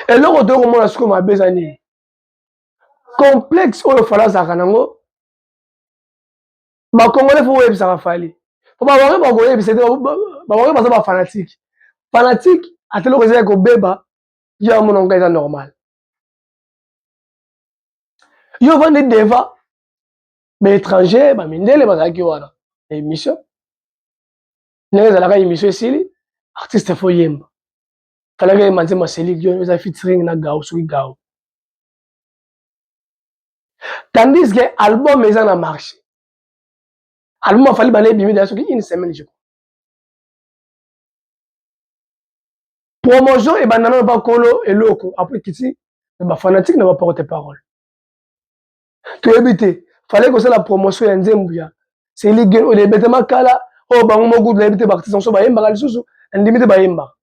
eloko toyo komona sikoyo mabe eza nini complexe oyo fali azalaka nango bakongole fo boyebisaka fali po babange bakoyebisa te babange baza bafanatike fanatike ata eloko ezali kobeba yo amona ngai eza normal yo ovandi deva baétranger bamindele bazalaki wana na émission ndenge ezalaka émission esili artiste fo yemba talaka ye manze maseli lio eza featuring na gao soki gao tandis que album eza na marché album afali bana ebimi deya soki une semaine je crois promotion ebanda nano bakolo eloko apres kiti na bafanatique na baporte parole toyebi te fallait kosala promotion ya nzembo ya seli gen oyo ebetama kala oyo bango moko kutu nayebi te baartiste mosusu bayembaka lisusu nandimi te bayembaka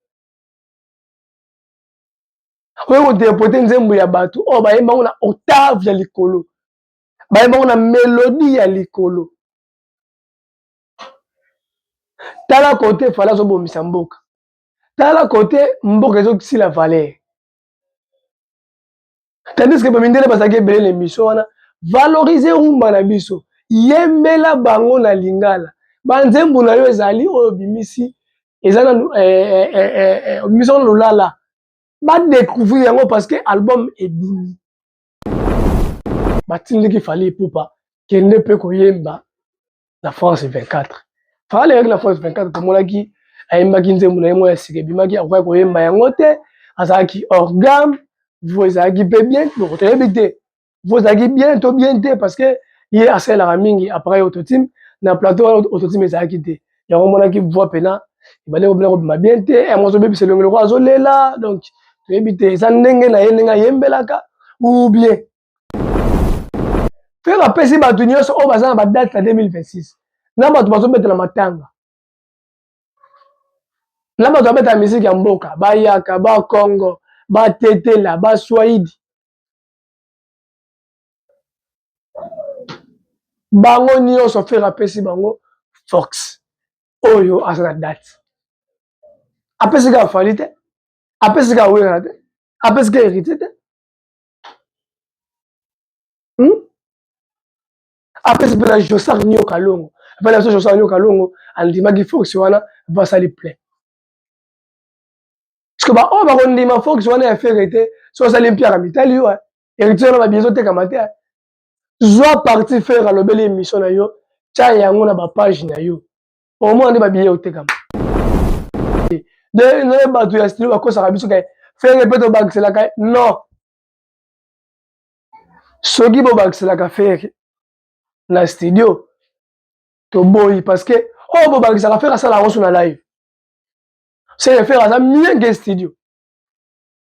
oyo kodepote nzembo ya bato oyo bayemba yango na octave ya likolo bayemba yango na melodi ya likolo tala kote fala azobomisa mboka tala kote mboka ezokisila valere tandis que bamindele bazalaki ebele na emission wana valorize rumba na biso yembela bango na lingala banzembo na yo ezali oyo bimisi eza na obimisi eh, eh, eh, wana lolala badecouvrir yango parce que album ebimi batindiki fali epupa kende mpe koyemba na France 24 Fally ayaki na France 24 tomonaki ayembaki nzembo na ye moko ya sika ebimaki akokaki koyemba yango te azalaki hors gamme vo ezalaki mpe bien boko toyebi te vo ezalaki bien to bien te parce que ye asalelaka mingi appareil autotime na plateau wana autotime ezalaki te yango omonaki voix mpena ebandi kobina kobima bien te yango azobebisa elongi lokola azolela donc toyebi te eza ndenge na ye ndenge ayembelaka ou bien mpe bapesi bato nyonso oyo baza na badate ya 2026 na bato bazobetela matanga na bato babetela miziki ya mboka bayaka bakongo batetela baswaidi bango nyonso fere apesi bango fox oyo aza na date apesi kaka fali te apesi kaka wera te apesi kaka héritier te hmm? apesi mpe na josar nio kalongo epai na biso josar nio kalongo andimaki fox wana mpo asali plein parceke baoyo bakondima fox wana ya fere te so osali mpiaka mitali yo heritier wana babi ezotekama te zwa parti fere alobeli emission na yo tya yango na bapage na yo omona nde babiye otekama nde bato ya stilo bakosaka biso ke fere mpe tobakiselaka non soki bobakiselaka fere na studio toboyi parce que oyo oh, bobakisaka fere asala yango so na live seke fere aza mieux ke studio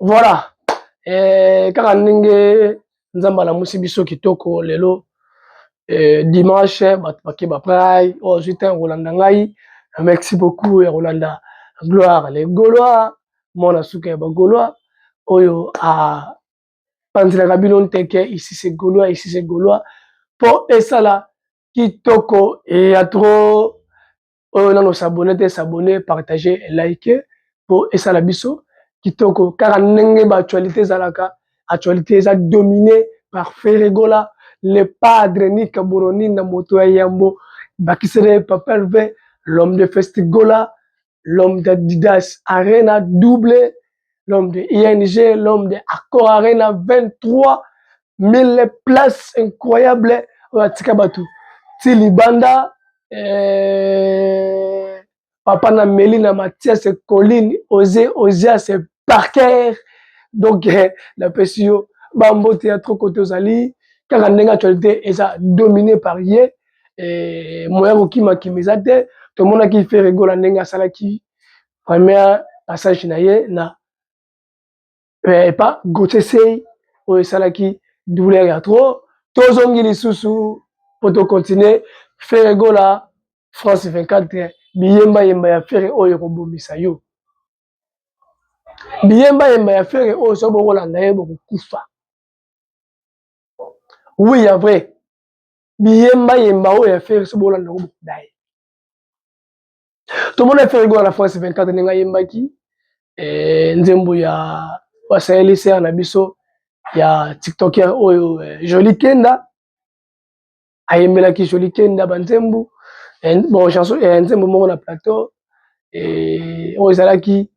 Voilà. Eh, kaka ndenge Nzambe alamusi biso kitoko lelo eh, dimanche bato bakeba prai oyo oh, azwi ntango kolanda ngai merci beaucoup ya kolanda gloire le gaulois mwana suka ya bagaulois oyo apanzelaka bino nteke ici c'est gaulois ici c'est gaulois mpo esala kitoko ya trop oyo nano s'abonne te s'abonne partager like po esala biso kitoko kaka ndenge ba actualité ezalaka actualité eza domine par Ferregola le padre Nick Buroni na moto ya yambo bakisere Papa Hervé l'homme de Festigola l'homme d'Adidas Arena double l'homme de ING, l'homme de Accor Arena, 23 000 places incroyables oyo atika bato ti libanda eh, papa na meli na matias colline ose osias parker donc eh, napesi yo bambote ya trop kote ozali kaka ndenge actualité eza domine par ye eh, moya kokimakima eza te tomonaki feregola ndenge asalaki première passage na ye na eh, epa Gauthier Sey oyo esalaki douleur ya trop tozongi lisusu mpo tokontinue Ferre Gola France 24 biyemba yemba ya Ferre oyo ekobomisa yo biyemba yemba ya Ferre oyo soki bokolanda ye bokokufa oui ya vrai biyemba yemba oyo ya Ferre soki bokolanda yango bokoda ye tomona efere gola na france 24 ndenge ayembaki eh, nzembo ya basayeli sere na biso ya tiktoker oyo eh, joli kenda ayembelaki joli kenda banzembo eh, bon chanson nzembo moko na plateau oyo ezalaki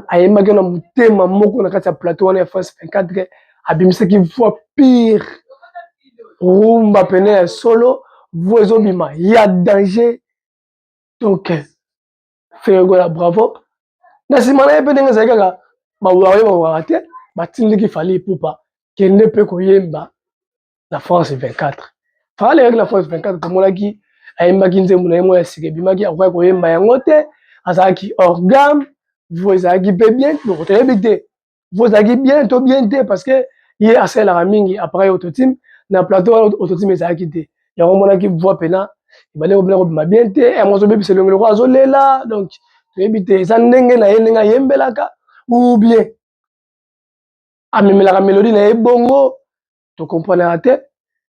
ayembaki na motema moko na kati ya plateau wana ya france 24 abimisaki voix pire rumba pene ya solo voix ezobima ya danger donc ferre gola bravo na nsima na ye mpe ndenge ezali kaka bawaye bawaka te batindiki fali ipupa kende mpe koyemba na france 24 fali ayaki na france 24 tomonaki ayembaki nzembo na ye moko ya sika ebimaki akokaki koyemba yango te azalaki orgame vo ezalaki mpe bien donc toyebi te bozalaki bien to bien te parce que ye asalelaka mingi appareil autotime na plateau wana autotime ezalaki te yango omonaki voix pena ebale kobina kobima bien te eh, yango azobebisa elongi lokola azolela donc toyebi te eza ndenge na ye ndenge ayembelaka ou bien amemelaka melodi na ye bongo to comprenaka te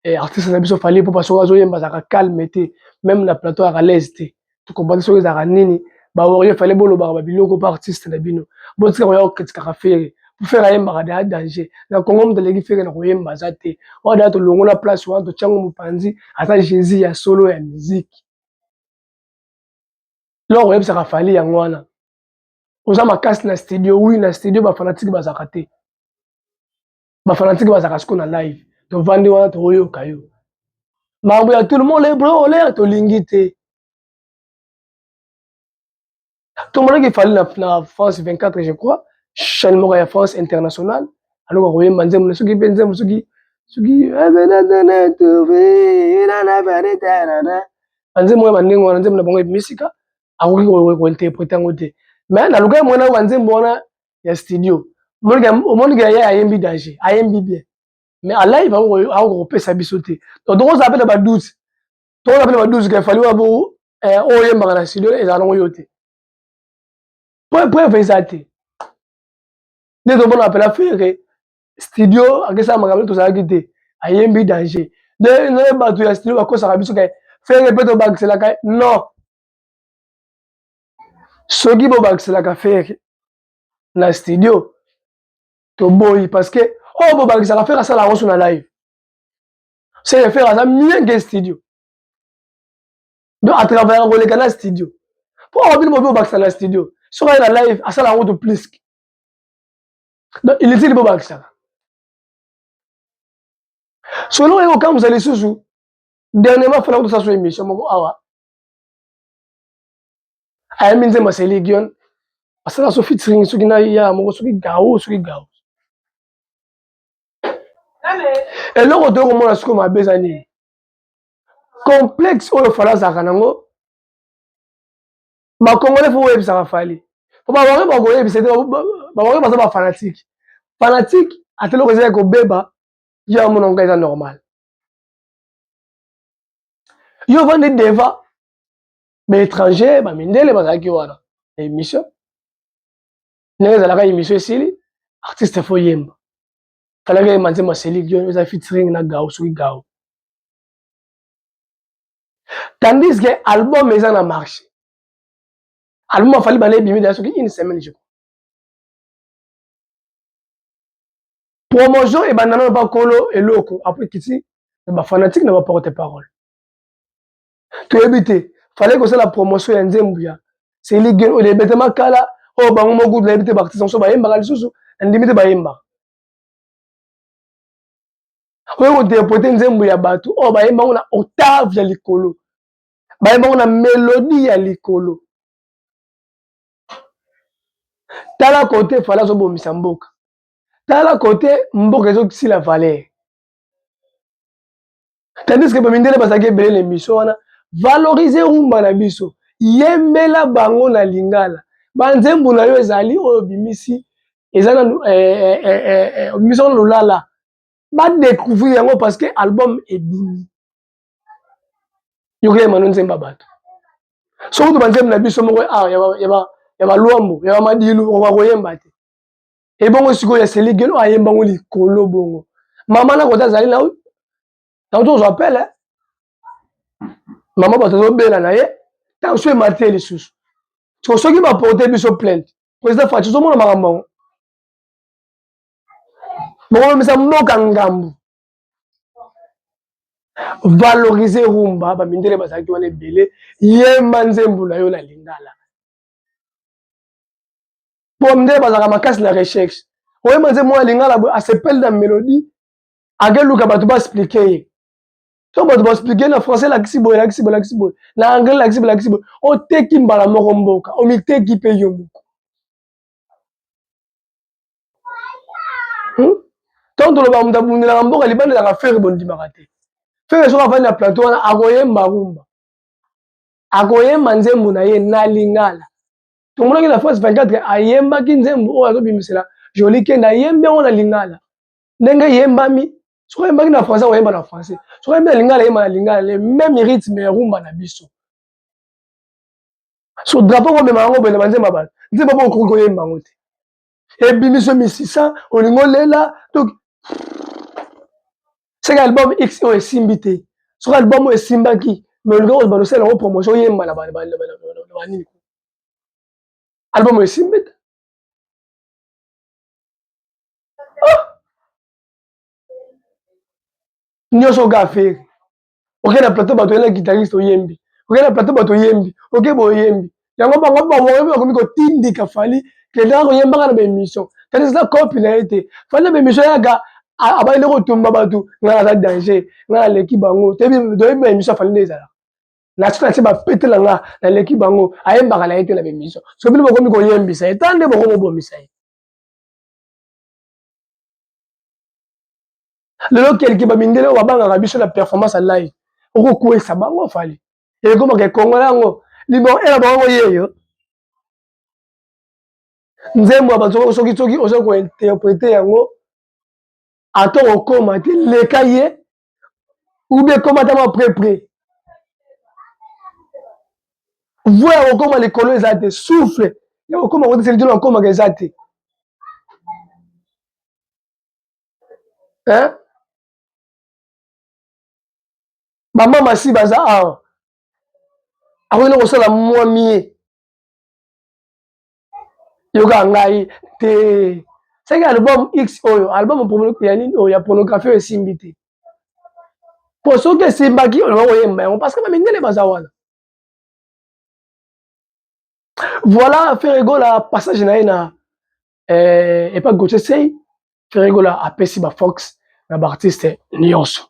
eh, artiste na biso fali mpo soki azoyemba azalaka calme te meme na plateau azalaka laise te to comprendre soki ezalaka nini bawario fale bolobaka babiloko mpo artiste na bino botika koya kokritikaka fere mpo fere ayembaka daya danger na congo moto aleki fere na koyemba aza te oyo daya tolongola place wana totyango mopanzi aza jésus ya solo ya miziki loko oyebisaka fali yango wana oza makasi na studio wi na studio bafanatike bazalaka te ba fanatique bazaka siko na live tovandi wana toyoka yo makambo ya tout le monde bro olea tolingi te tomonaki fali na, na france 24 je crois chaîne moko ya france internationale aloka koyemba nzembo na soki mpe nzembo soki soki banzembo ya bandenge wana nzembo na bango ebimi sika akoki kointerprete yango te me nalukaki mwana oyo banzembo wana ya studio omoni ke ye ayembi danger ayembi bien mais en live akoka kopesa biso te donc tokozala mpe na ba 12 tokozala mpe na ba 12 ke fali wana bo eh, oyo oyembaka na studio ezala nango yo te preuve eza te nde tomona apela fere studio akesaka makambo nde tozalaki te ayembi danger nde naye bato ya studio bakosaka biso ke fere mpe tobakiselaka non soki bobakiselaka fere na studio toboyi parce que oyo oh, bobakisaka fere asala yango so na live seke fere aza mieux ke studio donc atravayaka koleka na studio mpo oyo bino bobi bobakisa na studio soki aye na live asala yango to plus donc inutile bobakisaka solo oyo okambusa lisusu dernièrement fana kotosala so émission moko awa ayambi nzemba Celine Dion asala so featuring soki na ya moko soki gao soki gao eloko toyo komona soki mabe eza nini complexe oyo fala azalaka nango bakongole fo boyebisaka fali po babange bakoyebisa te babange baza bafanatike fanatike ata eloko ezali kobeba yo amona ngai eza normal yo ovandi deva ba étranger ba mindele bazalaki wana na émission ndenge ezalaka émission esili artiste fo yemba talaki ye manze maseli lio eza featuring na gao soki gao tandis que album eza na marché album afali bana ebimi deya soki une semaine je crois promotion ebanda nano bakolo eloko apres kiti na bafanatique na baporte parole toyebi te fallait kosala promotion ya nzembo ya seli gen oyo ebetama kala oyo bango moko kutu nayebi te baartiste mosusu bayembaka lisusu nandimi te bayembaka oyo kointerprete nzembo ya bato oyo bayemba yango na octave ya likolo bayemba yango na melodi ya likolo tala kote fale azobomisa mboka tala kote mboka ezokisila valere tandis que bamindele bazalaki ebele na emission wana valorize rumba na biso yembela bango na lingala banzembo na yo ezali oyo obimisi eza na obimisi eh, eh, eh, wana lolala badecouvrir yango parce que album ebimi yoka ye mano nzemba bato soki to banzembo na biso moko ah, ya balwambo ya bamadilu okoka koyemba te ebongo sikoyo ya seligelo ayemba ngo likolo bongo mama na kota azali na nauti ozwa pele eh? mama bato azobela na ye tension emati ye lisusu siko soki baporte biso plainte président faci ozomona makambo yango bokomemisa mboka ngambu valoriser rumba bamindele bazalaki wana ebele yemba nzembo na yo na lingala po mde bazalaka makasi na recherche oyeba nze mwa lingala boye asepeli na melodie akeluka bato baexplike ye to bato baexplike na français lakisi boye lakisi boye lakisi boye na anglais lakisi boye lakisi boye oteki mbala moko mboka omiteki mpe yo moko hmm? ntango toloba moto abundelaka mboka libanda ezaka fere bondimaka te fere soki afandi na plateau wana akoyemba rumba akoyemba nzembo na ye na lingala tomonaki na france 24 ayembaki nzembo oyo azobimisela joli kende ayembi yango na lingala ndenge eyembami soki ayembaki na français akoyemba na français soki ayembi na lingala ayemba na lingala le même rythme ya rumba na biso so drapeau komema yango boye na banzemba bato nzemba bokoki koyemba yango te ebimiso misisa olingi olela donc seke album x oyo esimbi te soki album oyo esimbaki me olingi kozba losala yango promotion oyemba na banini album oyo esimbi te ah! nyonso oga aferi oke na plateau bato oyena guitariste oyembi oke na plateau bato oyembi oke boye oyembi yango bango bamoyebi bakomi kotindika fali kendaka koyembaka na baemission kasi eza kopi na ye te fali na baemission yaka abayende kotumba bato ngai naza danger ngai naleki bango toyebi baemission ya fali nde ezalaka nasi nasi bapetela nga naleki bango ayembaka na ye te na baemission so bino bokomi koyembisa ye tala nde bokomobomisa ye lelo kelke bamindele oyo babangaka biso na performance ya live okokwesa bango fali ekomaka ekongola yango liboko ela bango yeyo nzembo ya bato soki soki oza kointerprete yango ata okoma te leka ye ube ekomatama prepre voi ya kokoma likolo eza te souffle ya kokoma kotiseli tino akomaka eza te hein? bama masi baza awa akoki na kosala mwa mie yoka ngai te seke album x oyo album ya nini oyo ya pornographie oyo esimbi te mpo soki esimbaki oyo nakoyemba yango parce que bamindele baza wana voilà ferregola passage na ye na eh, epa gautier sei ferregola apesi bafox na baartiste nyonso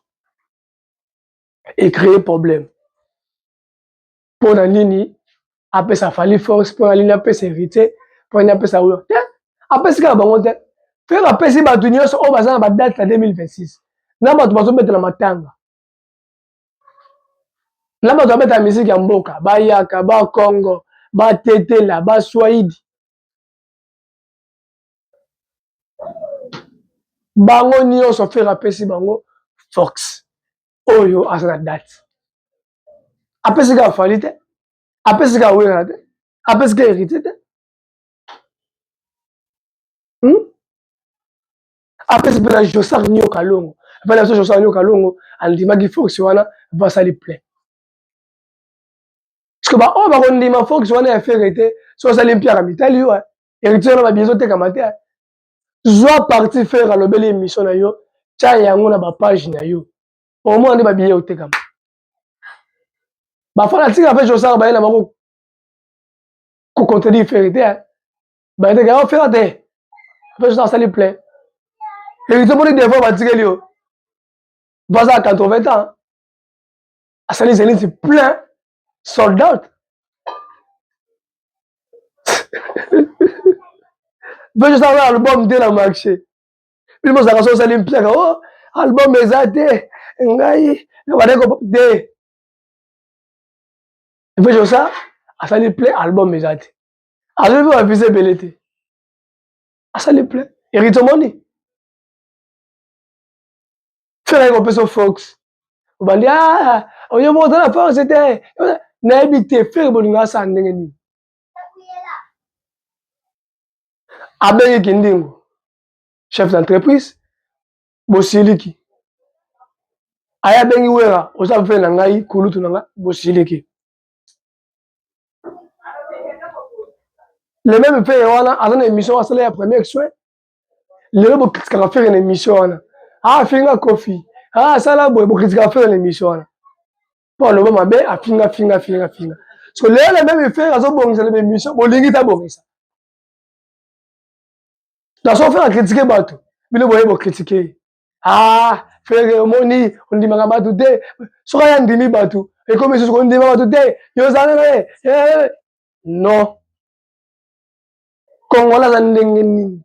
ecree problème mpo na nini apesa fali force mpo na nini apesa héritier mpo na nini apesa oyo te apesi kaka bango te frere apesi bato nyonso oyo baza na badate ya 2026 na bato bazobetela matanga na bato babetaka miziki ya mboka bayaka bakongo batetela baswaidi bango nyonso fere apesi bango fox oyo aza na date apesi kaka fali te apesi kaka wera te apesi kaka héritier te hmm? apesi mpe na josar nio kalongo epai na biso josar nio kalongo andimaki fox wana basali plein parce que ba oyo ba kondima fox wana ya ferre te so osali mpiaka mitali yo héritier wana babi ezotekama te zwa parti ferre alobeli émission na yo tya yango na bapage na yo omona nde babiye otekama bafana tika mpe josaka baye na bango kocontredire ferre te bayeteke yango ferre te mpe josaka asali plein héritier moni devant batikeli yo baza 80 ans asali zenisi plein sold out mpe tosala album te na marché bino bozalaka so osali mpiaka o oh, album eza te ngai nabandaki kopop te mpe tosa asali plein album eza te azwi mpe bavise ebele te asali plein eritomoni fela ye kopesa fox obandi ah, oyo moto na force te nayebi te fere bolingaka saa ndenge nini abengi kindingo chef d'entreprise bosiliki aye abengi wera oza mpe na ngai kulutu na ngai bosiliki le meme fere wana aza na émission asala ya premier soin lelo bokritikaka fere na emission wana afinga ah, kofi ah, asala boye bokritikaka fere na emission wana mpo aloba mabe afinga finga finga finga so lelo na meme fere azobongisa na bemission bolingi tabongisa naso fere akritike bato bino boye bokritike ye ah fere omoni ondimaka bato te soki aya ndimi bato ekomi susu kondima bato te yo ozala na ye eh, eh, eh. non Kongola aza ndenge nini?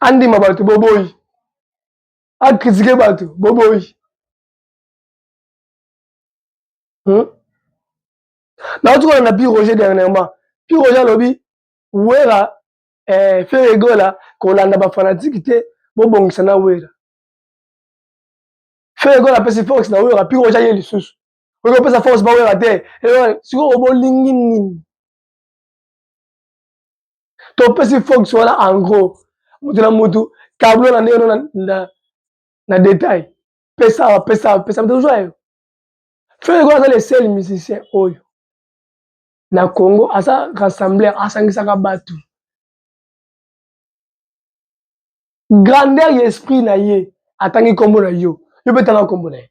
Andima bato boboyi, akritike bato boboyi. Hmm? Nauti kolanda Pi Roger dernièrement. Pi Roger alobi Wera eh, Ferre Gola kolanda ba fanatiques te bobongisa na Wera. Ferre Gola apesi force na Wera, Pi Roger aye lisusu. oyo opesa force bawera te sikoyo bolingi nini topesi fox wana en gros motu na motu tablo na ndenge no na, na detail pesa awa pesa awa pesa tozwa yo frere koyo aza le seul musicien oyo na congo aza rassembleur asangisaka bato grandeur ya esprit na ye atangi nkombo na yo yo mpe tanga nkombo na ye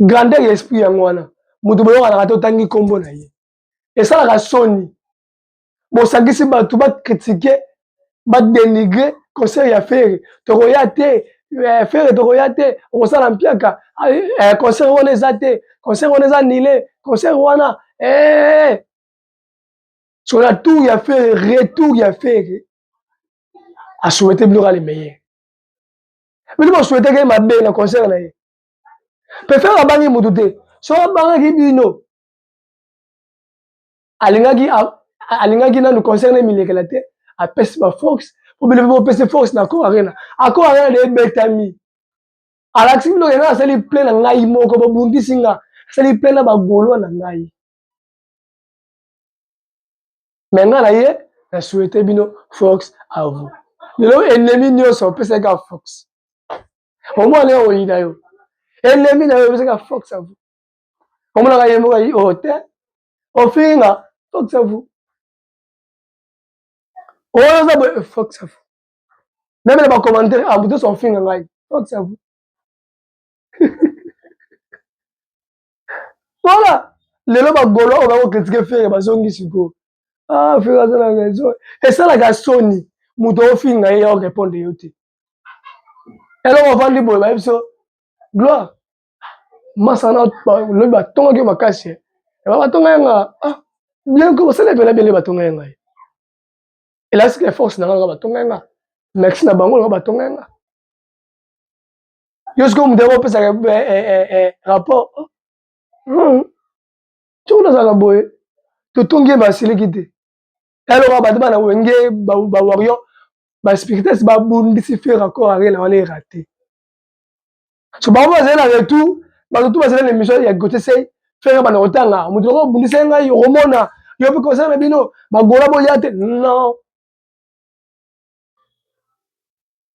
grandeur ya esprit yango wana moto boyokanaka te otangi nkombo na ye esalaka soni bosangisi bato bakritike badenigre concert ya fere tokoya te eh, fere tokoya te okosala mpiaka ah, eh, eh, concert wana eza te concert wana eza nile concert wana sur la tour ya fere retour ya fere asouhaite biloko ya le meilleur bino bosueteke ye mabe na concert na ye pefere abangi motu te so abangaki bino alingaki alingaki nanu concert na milekela te apesi ba force po bino mpe bopesi force na accord arena accord arena de ebetami alakisi bino kena asali plein na ngai moko bobundisi nga asali plein na bagolwa na ngai mais nga na ye na souhaite bino fox à vous lelo ennemi nyonso opesaki ka fox omwana yo oyina yo ennemi na yo opesaki ka fox à vous omonaka ye moko ayi oyo te ofingi nga fox à vous oyo oza boye fox à vous meme na bacommentaire abutoso ofinga ngai fox à vous Voilà. Lelo ba golo oyo bako critiquer Ferre bazongi siko. Ah Ferre aza na raison. Esalaka soni. Moto ofinga ye ya répondre yo te. Eloko ofandi boye ba biso gloire masana lobi batongaki yo makasi eh. eba batonga ye nga ah, bien ko basala epela bele batonga ye ngai elasika force na nga nga batonga ye nga merci na bango nga batonga ye nga yo sikoyo moto yango opesaka eh, eh, eh, rapport hmm. soki nazalaka boye totongi ye basiliki te eloko bato bana wenge bawarion baspirites babundisi fe raccord arena wana erate so bango bazali na retour bato tu bazali na émission ya gotesei fere bana kotanga moto loko obundisa ngai okomona yo mpe kosala na bino bagola boya te non